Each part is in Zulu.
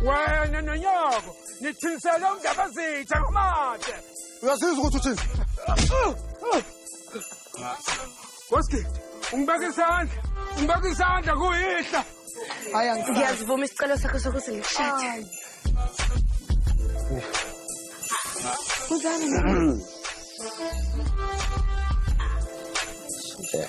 wena nonyoko nithinisele umndabazitha ngomade uyazizwa ukuthi uthini koski ungibeka isandla ungibeka isandla kuyihla ngiyazivuma isicelo sakho sokuthi ngikushade uzani Yeah.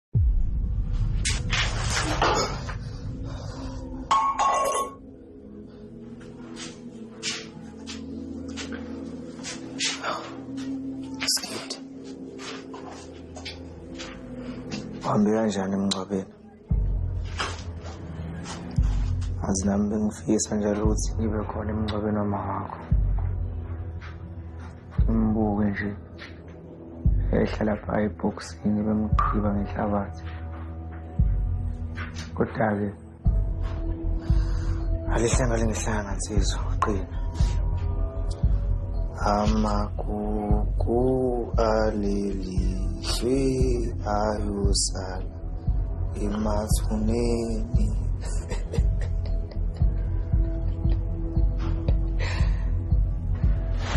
Uhambe kanjani emngcwabeni? Azi nami bengifisa njalo ukuthi ngibe khona emngcwabeni wamama wakho. Ngimubuke nje. yayihlala phaa ebhokisini bemgqiba ngenhlabathi kodwa-ke alihlanga lingihlanga nsizwa qina amagugu aleli shwi ayosala emathuneni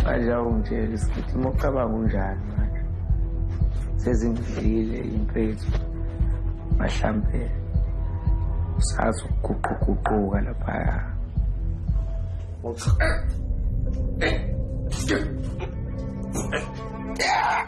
manje awungitsheli sikithi uma ucabanga unjani manje sezingidlile impethu mhlawumbe usazi ukuguquguquka laphaya Yeah!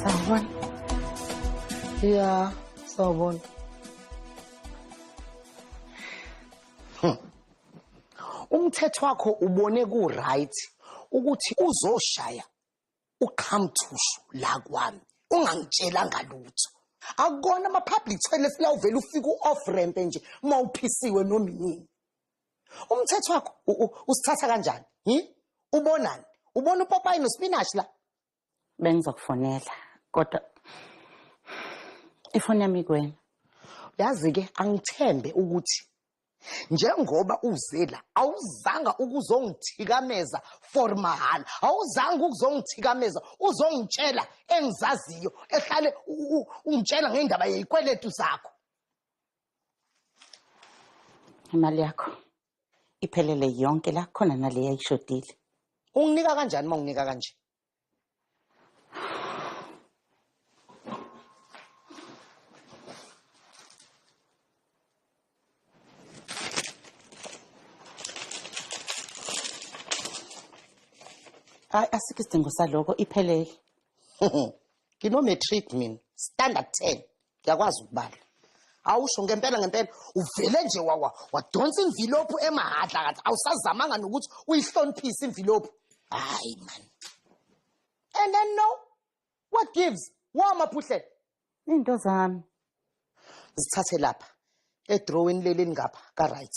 Sawubona. Yeah, sawubona. Hmm. Umthetho wakho ubone ku right ukuthi uzoshaya uqhamthushu la kwami ungangitshelanga lutho akukona ama-public toilet la uvele ufike u-off ramp nje uma uphisiwe noma inini umthetho wakho usithatha kanjani hi ubonani ubona upopayi nospinashi la bengizokufonela kodwa ifoni yami kuwena yazi-ke angithembe ukuthi njengoba uze la awuzanga ukuzongithikameza for mahhala awuzanga ukuzongithikameza uzongitshela engizaziyo ehlale ungitshela ngendaba yezikweletu zakho imali yakho iphelele yonke la khona nale yayishodile unginika kanjani uma unginika kanje hayi asikho isidingo saloko iphelele ngino-matric mina standard ten Ngiyakwazi ukubala. Awusho ngempela ngempela uvele nje wawa wadonsa imvilophu emahadla kathi awusazamanga nokuthi uyihloniphise imvilophu. Hayi man. And then no what gives? Wa maphuhle. Into zami. Zithathe lapha. Edrawini leli lingapha ka right.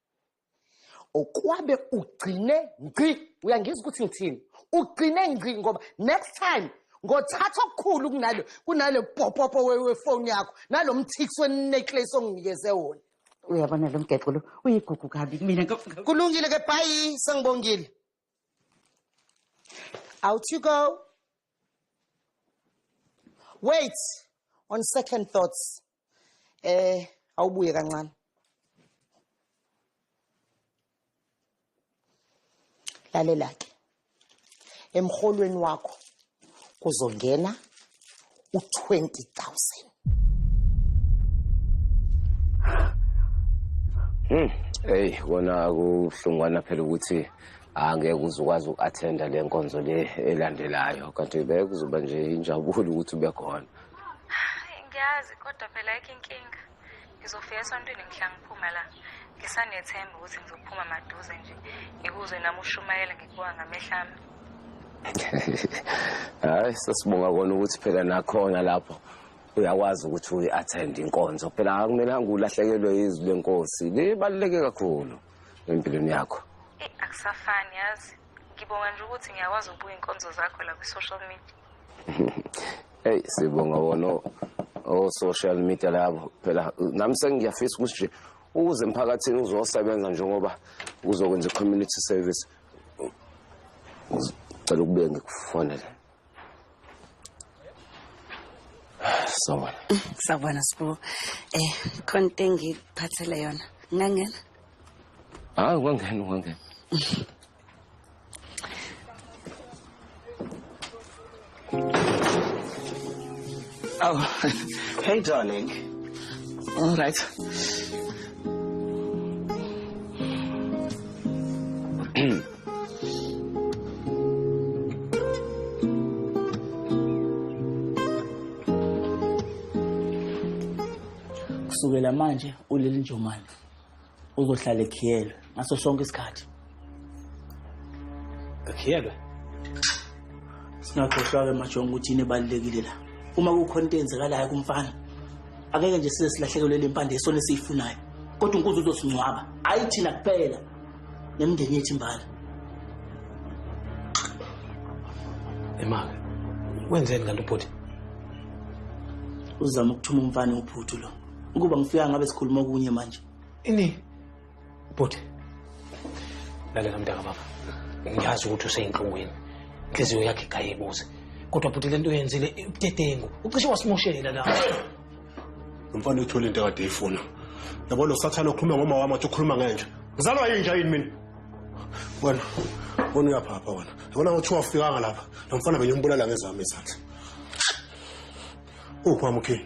okwabe ugcine ngci uyangizwa ukuthi ngithini ugcine ngci ngoba next time ngothatha okukhulu kunalo kunale popopo wefoni yakho nalo mthiksi wenecklace onginikeze wona uyabona lo mgeqo lo uyigugu kabi mina kulungile ke bhayi sengibongile out you go wait on second thoughts eh awubuye kancane lalela ke emholweni wakho kuzongena u20000 Hmm. Hey kona kuhlungwana phela ukuthi angeke uzukwazi uku-attenda le nkonzo le elandelayo kanti bekuzoba nje injabulo ukuthi ube khona ngiyazi kodwa phela ayikho inkinga ngizofika esontweni ngihla ngiphuma la ngisanethemba ukuthi ngizophuma maduze nje ngikuzwe nami ushumayela ngikuwa ngamehla ami hayi sesibonga kona ukuthi phela nakhona lapho uyakwazi ukuthi uyi-attend inkonzo phela akumelanga ulahlekelwe izwi lenkosi libaluleke kakhulu empilweni yakho akusafani yazi ngibonga nje ukuthi ngiyakwazi ukubuka inkonzo zakho la kwi-social media Hey sibonga wona o social media labo phela nami sengiyafisa ukuthi nje ukuze emphakathini uzosebenza njengoba uzokwenza community service ngicela ukube ngikufonele sawona sawona sibu eh khona into engikuphathele yona ngangena hayi ungangena ungangena Oh, hey darling. All right. Kusukela manje uleli njomane. uzohlala ekhiyelwe ngaso sonke isikhathi ekhiyelwe singakhohlwa-ke majonga ukuthi yini ebalulekile la uma kukhona into eyenzekalayo kumfana akeke nje size silahlekelwe le mpande yesona esiyifunayo kodwa unkuzi uzosingcwaba ayi thina kuphela nemndeni yethu imbala emake wenzeni kanti ubhuti uzama ukuthuma umfana uphuthu lo ukuba ngifika ngabe sikhuluma okunye manje ini bhuti lalela mntaka baba ngiyazi ukuthi useyinhlungwini inhliziyo yakhe igaye ibuze kodwa bhuti le nto oyenzile ubudedengu ucishe wasimoshela la umfana uthole into ekade eyifuna yabo lo sathane okhuluma ngoma wami athi ukhuluma ngenja ngizalwa yinja yini mina wena wena uyaphapha wena yabona ngothi wafikanga lapha nomfana bengimbulala ngezami izandla uphi wami ukhini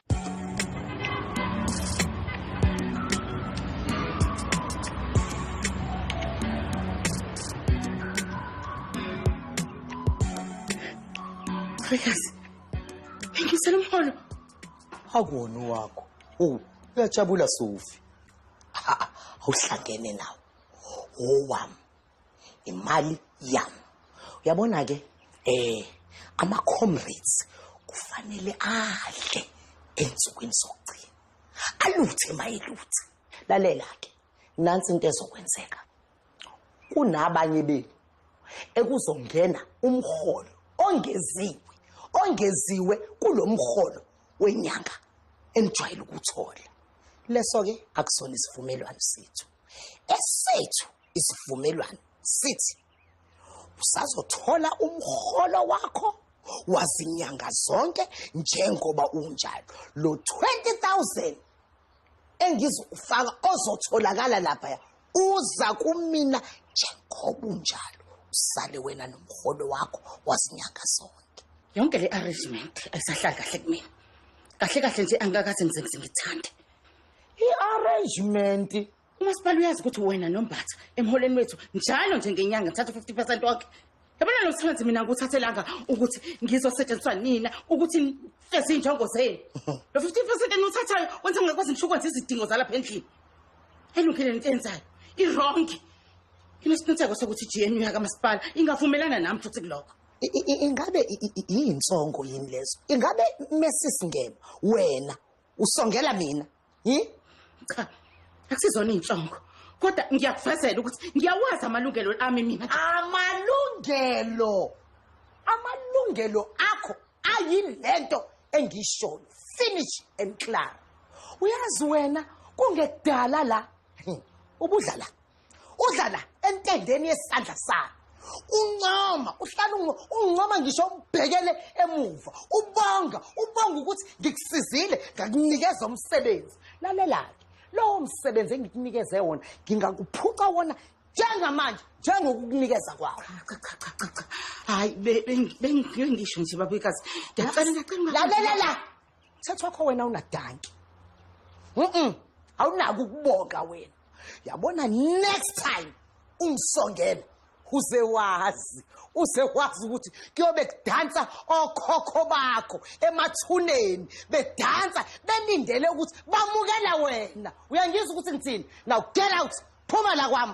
Prayers. Thank you, Salamholo. Akuwona wakho. Oh, uyajabula Sofi. Awuhlangene nawo. Owami. imali yam uyabona ke eh ama comrades kufanele adle ensukwini sokugcina aluthe mayeluthe lalela ke nansi into ezokwenzeka kunabanye benu ekuzongena umholo ongeziwe ongeziwe kulomholo wenyanga enijwayele ukuthola leso ke akusona isivumelwano sethu esethu isivumelwano sithi usazothola umholo wakho wazinyanga zonke njengoba unjalo lo 20000 engizokufaka ozotholakala lapha uza kumina njengoba unjalo usale wena nomholo wakho wazinyanga zonke yonke le arrangement ayisahlali kahle kumina kahle kahle nje angikakaze ngize ngithande i-arrangement umasipala uyazi ukuthi wena nombatha emholweni wethu njalo nje ngenyanga thatha u-fifty percent wakhe yabona lo msebenzi mina ngikuthathelanga ukuthi ngizosetshenziswa nina ukuthi feze iy'njongo zenu lo fifty percent eniwuthathayo wenza ngingakwazi ngisho ukwenza izidingo zalapha endlini elungile nento enzayo irongi nginesiqiniseko sokuthi i-g n u yakamasipala ingavumelana nami futhi kulokho I- i- i- ingabe i- i- i- yinsongo yini lezo ingabe mesisingema wena usongela mina hi cha akusizona iy'nhlongo kodwa ngiyakuvezela ukuthi ngiyawazi amalungelo ami mina amalungelo amalungelo akho ayini le nto engiyishoyo finish and clar uyazi wena kungekudala la ubudlala udla la entendeni yesandla salo uncoma uhlala uncoma ngisho ubhekele emuva ubonga ubonga ukuthi ngikusizile ngakunikeza umsebenzi lalelake lowo msebenzi engikunikeze wona ngingakuphuca wona njengamanje njengokukunikeza kwakho cha cha cha cha cha hayi bengisho nje babekazi ndiyacela ndiyacela lalela la Thatha wakho wena unadanki. Mhm. Awunaki ukubonga wena. Yabona next time ungisongela uze wazi uze wazi ukuthi kuyobe kudansa okhokho bakho emathuneni bedansa belindele ukuthi bamukela wena uyangizwa ukuthi ngithini now get out phuma la kwami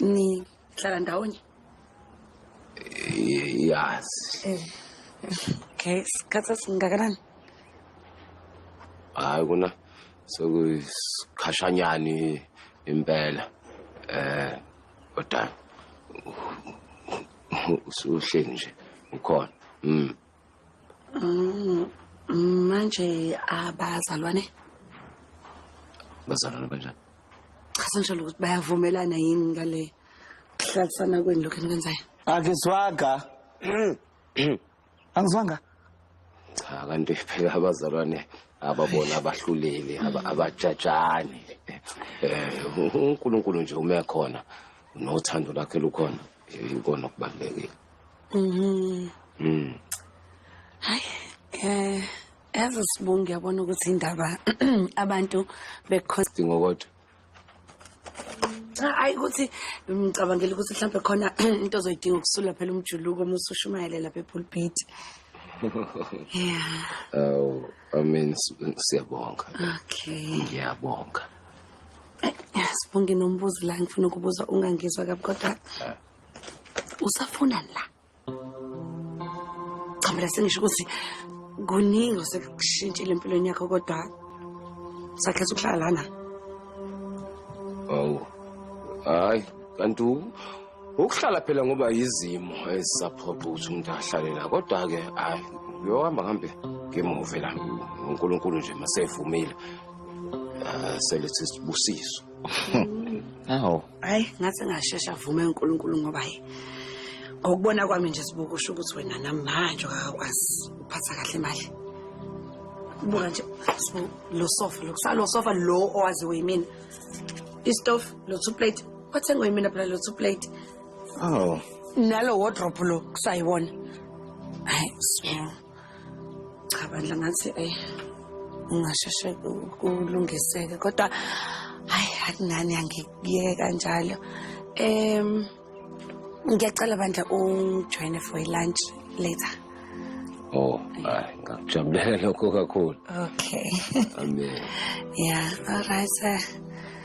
nihlala ndawonye yes okay isikhathi esingakanani hayi kona sekuyikhashanyani impela eh kodwa usuhleli nje ukhona mm Mm, mm, manje abazalwane bazalwane banjani cha senjalo ukuthi bayavumelana yini ngale kuhlalisana kwenu lokhu enikwenzayo akizwaga angizwanga cha kanti phela abazalwane ababona abahluleli aba- abajajani eh uNkulunkulu nje uma ekhona nothando lakhe lukhona eh, ikona okubalekile Mhm. Mm. Hayi eh yazi sibonge yabona ukuthi indaba abantu bekhona Dingo kodwa. hayi ukuthi ngicabangela ukuthi mhlawumbe khona into ozoyidinga ukusula phela umjuluko uma usushumayele lapha epulpit. Yeah. Aw, I mean s- siyabonga. Okay. Ngiyabonga. Sibonge nombuzo la ngifuna ukubuza ungangizwa kabi kodwa usafuna la cha mina sengisho ukuthi kuningi osekushintshile empilweni yakho kodwa sakhetha ukuhlala lana awu hayi kanti ukuhlala phela ngoba yizimo ezisaphoqa ukuthi umuntu ahlale la kodwa-ke hayi uyohamba ngihambe ngimuve la unkulunkulu nje masevumile ah, selethi sibusiso awu hayi ngathi ngashesha avume uNkulunkulu ngoba hayi ngokubona kwami nje sibuka usho ukuthi wena namanje akakwazi ukuphatha kahle imali buka nje sibu- lo sofa lokusalo sofa lo owaziwe yimina istove lo two plate wathengwe yimina phela lo two plate Oh. nalo wardrobe lo kusayiwona hayi sibu cha bandla ngathi ayi ungasheshe kulungiseke kodwa hayi akungani angikuyeka njalo um ngiyacela bandla ujoyine for ilunch later oh hayi ngakujabulela lokho kakhulu okay amen yeah all right sir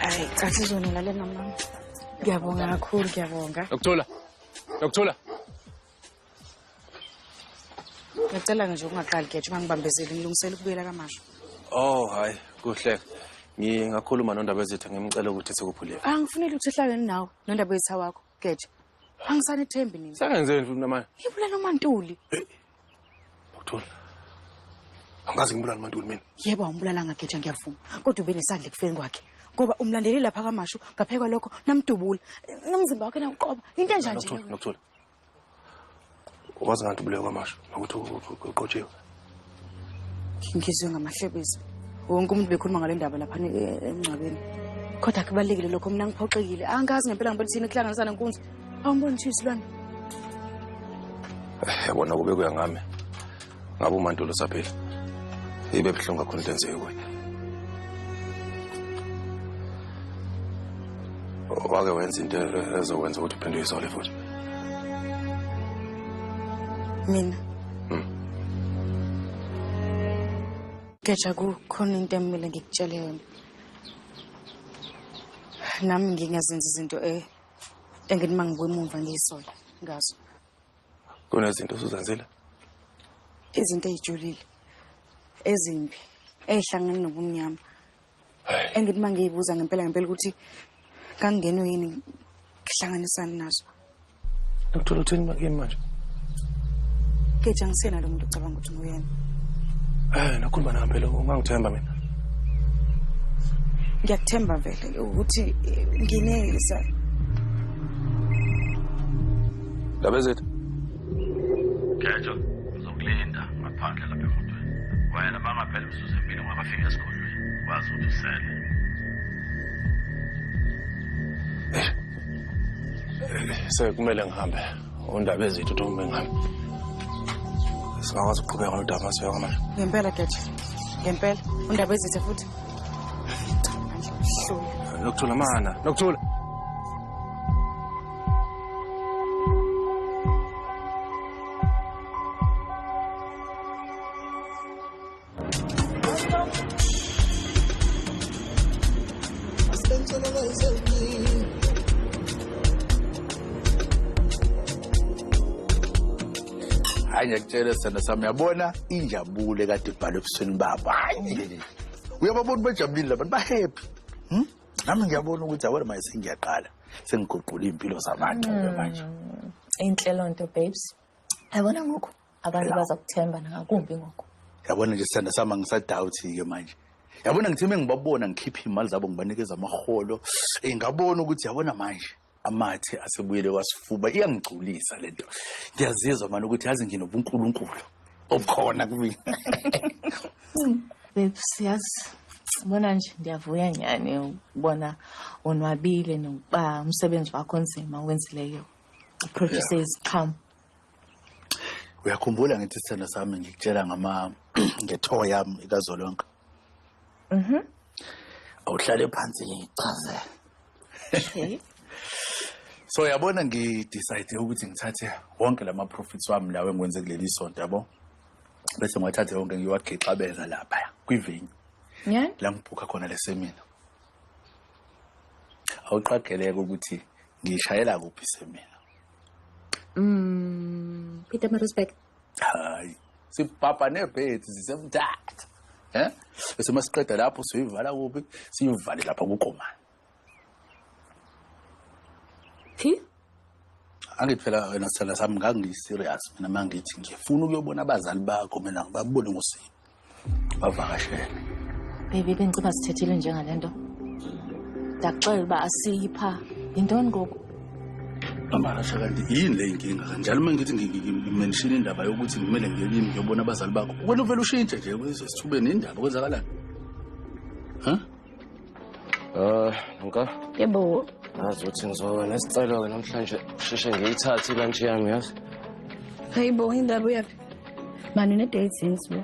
Hayi cha sizonela lena mama. Ngiyabonga kakhulu ngiyabonga. Nokuthola. Nokuthola. ngicela nje ungaqali geje uma ngibambezeli ngilungisela ukubuyela kamasho oh hayi kuhle ngingakhuluma nondaba ezitha ngimcela ukuthi sikuphulele angifuneli ukuthi uhlaleni nawe nondaba ezitha wakho geje angisanithembi nini sengenzeni futhi namanje ngibulala umantuli uthula angazi ngibulala umantuli mina yebo awumbulala ngageja ngiyavuma kodwa ube nesandla ekufeni kwakhe ngoba umlandeleli lapha kamashu ngaphekwa lokho namdubula nomzimba wakhe nawuqoba into enjanje nokuthula wazi ngathi ubulewe kwamasho nokuthi uqotshiwe ngizwe ngamahlebezi wonke umuntu bekhuluma ngale ndaba lapha emngcwabeni kodwa kubalulekile lokho mina ngiphoxekile angazi ngempela ngibona thina kuhlanganisana nkunzi awumboni thisilwane yabona kube kuya ngami ngabe umantulo usaphila ibe buhlungu kakhulu into enzeke kuye wake wenza into ezokwenza ukuthi uphinde uyizole futhi mina hmm. Geja kukhona into emile ngikutshele yona nami ngingazenza izinto e engithi mangibuya emuva ngiyisola ngazo kunezinto osuzenzile izinto ezijulile ezimbi ezihlangene nobumnyama engithi uma ngiyibuza ngempela ngempela ukuthi kangingenwe yini ngihlanganisani nazo uthola uthini bakini manje keja ngisena lo muntu ocabanga ukuthi nguyena um nakhuluma nangempela ungangithemba mina ngiyakuthemba vele ukuthi ngineza ndaba ezethu khetho uzokulinda ngaphandle lapha emotweni wayena bangaphela imizuzu emile ungakafiki esigodlweni wazi ukuthi usele sekumele ngihambe undaba ezithu uthi kumbe ngihambe singakwazi ukuqhubeka nodaba masiyoko manje ngempela geje ngempela undaba ezithe futhi lokuthola mana lokuthola hayi ngiyakutshela sithanda sami yabona injabule kade ibhalwe ebusweni babo hayi uyababona bajabulile labantu bahappy hmm? nami ngiyabona ukuthi awena maye sengiyaqala sengiguqula iy'mpilo zamangcebe mm. manje inhle loo nto babes yabona ngoku abantu bazakuthemba nangakumbi ngoku yabona nje sithanda sama ngisadawuthi-ke manje yabona ngithe uma ngibabona ngikhiphe iy'mali zabo ngibanikeza amaholo um ngabona ukuthi yabona manje amathe asebuyele kwasifuba iyangigculisa lento ngiyazizwa manje ukuthi yazi nginobunkulunkulu obukhona kumina babes yazi bona nje ndiyavuya nyhani ukubona onwabile nokuba umsebenzi wakho onzima owenzileyo uproduce iziqhamo uyakhumbula ngithi sithando sami ngikutshela ngama ngetho yami ikazolonke mhm awuhlale phansi ngichaze okay so yabona ngidecide ukuthi ngithathe wonke lama profits wami lawo engikwenze kuleli sonto yabo bese ngiwathathe wonke ngiwagixabeza lapha kwivenue yeah la ngibhukha khona lesemina awuqageleke ukuthi ngishayela kuphi semina Mm, Peter Marusbeck. Hayi. Sibhabha nebhedi sisemthatha. Eh? Bese masiqeda lapho siyivala kuphi? Siyivale lapha kukomani. Phi? Angithi phela wena sithanda sami ngangiyiserious mina mangithi ngifuna ukuyobona abazali bakho mina ngibabone ngosini. bavakashele baby bengiceba sithethile njengale nto ndakuxelela uba asiyi pha yintoni ngoku amahasha kanti yini le inkinga kanjalo uma ngithi ngimenshini indaba yokuthi ngimele ngiyelimi ngiyobona abazali bakho wena uvele ushintshe nje kwezesithubeni indaba kwenzakalani ha Uh, nka. Yebo. Ngazi ukuthi ngizoba nesicelo-ke namhlanje sheshe ngiyithathe ilantshi yami yazi. Hayi bo, indaba uyaphi? Mani une-date since bo.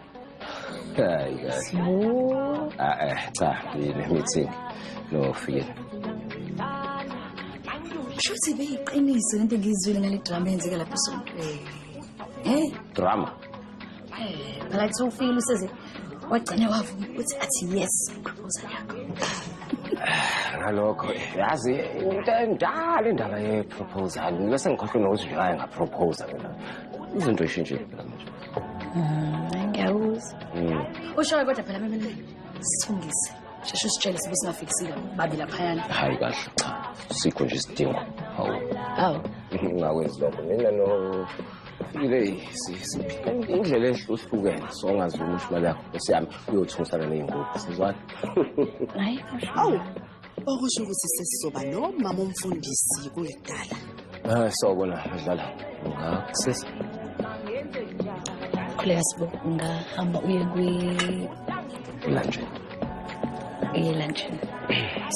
Hayi kahle. Bo. Ah eh cha, yini meeting. No feel. Shuthi beyiqiniso lento ngizwile ngale drama yenzeka lapha esontweni. Hey. Drama. phela kuthi ufile useze wagcine wavuma ukuthi athi yes proposal yakho ngalokho yazi into endala indaba ye-proposal ngibe sengikhohlwe nokuthi nje aye ngaproposa mina izinto ishintshile phela manje Mm, ngiyakuzwa Mm. ushoyo kodwa phela bemele sithungise sheshe usitshele sibe singafikisile babi laphayana hayi kahle cha sikho nje isidingo hawu awu ngingakwenzi lokho mina no indlela ehluhlukene songazi ukuthi imali yakho esiyami uyothusa ke ley'ngubo sizwani hayi awu okusho ukuthi sesizoba nomama umfundisi kulidala hayi ah, sobo la adlala ngakusisa khuleka sibo ungahamba uye kwi lunch uye lunch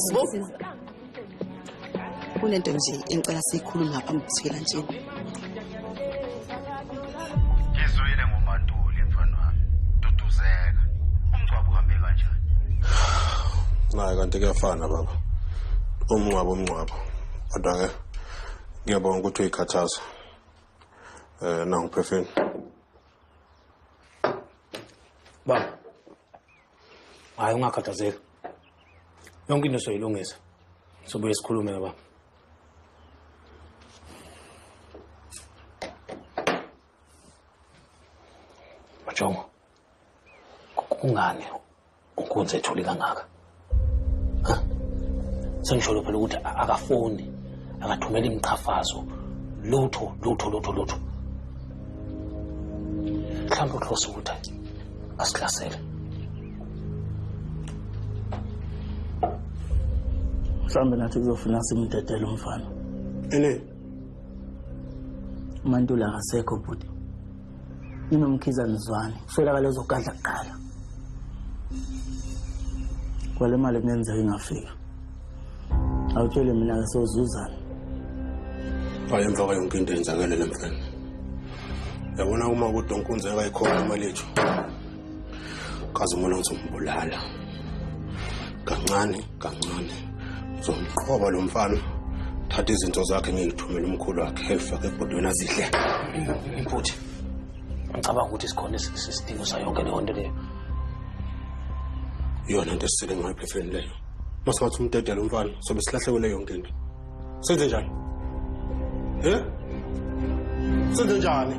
sibo kunento nje engicela siyikhulume ngapha ngikuthela nje ngizwile ngomantuli mfana wami duduzeka umngcwabo uhambe kanjani naye kanti kuyafana baba umngcwabo umngcwabo kodwa-ke ngiyabonga ukuthi uyikhathaza um eh, nanguphefeni baba hayi ungakhathazeki yonke into soyilungisa sobuye sikhulume baba majongo kungani unkunzi ethuli kangaka sengisholo phela ukuthi akafoni akathumeli imiqhafazo lutho lutho lutho lutho mhlawumbe uhlose ukuthi asihlasele mhlawumbe nathi kuzofuna simdedele umfana ene umantula akasekho bhuti ninomkhiza nizwane kuswelakala ezogadla kuqala kwale mali kungenzeka ingafika awutshele mina-ke sozuzana wayenza kwa yonke into yenzakelele mfana yabona uma kodwa unkunzi akayikhona imali yethu kaze umona ukuthi umbulala kancane kancane uzomqhoba lo mfana thatha izinto zakhe ngiyithumele umkhulu wakhe elifake ebhodweni azidle mputhi ngicabanga ukuthi sikhona isidingo sayonke leyo nto leyo iyona nto esisele ngayo phefeni leyo masingathi umdedela umfana sobe silahlekele yonke into senze njani he senze njani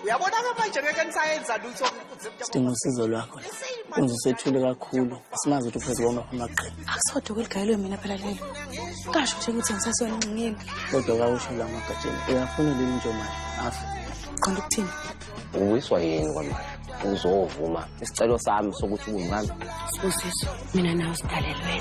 uyabona-ke manje ngeke nisayenza lutho sidinga usizo lwakho la kunze usethule kakhulu asimazi ukuthi uphezu kwama amaqhele akusodwa kweligayelwe mina phela lelo kasho nje ukuthi ngisasona nxingeni kodwa kawusho la magatsheni uyafuna leli njomane afe qonda ukuthini uwiswa yini kwamanje uzovuma isicelo sami sokuthi ubungami sibusiso mina nawe sidalelwene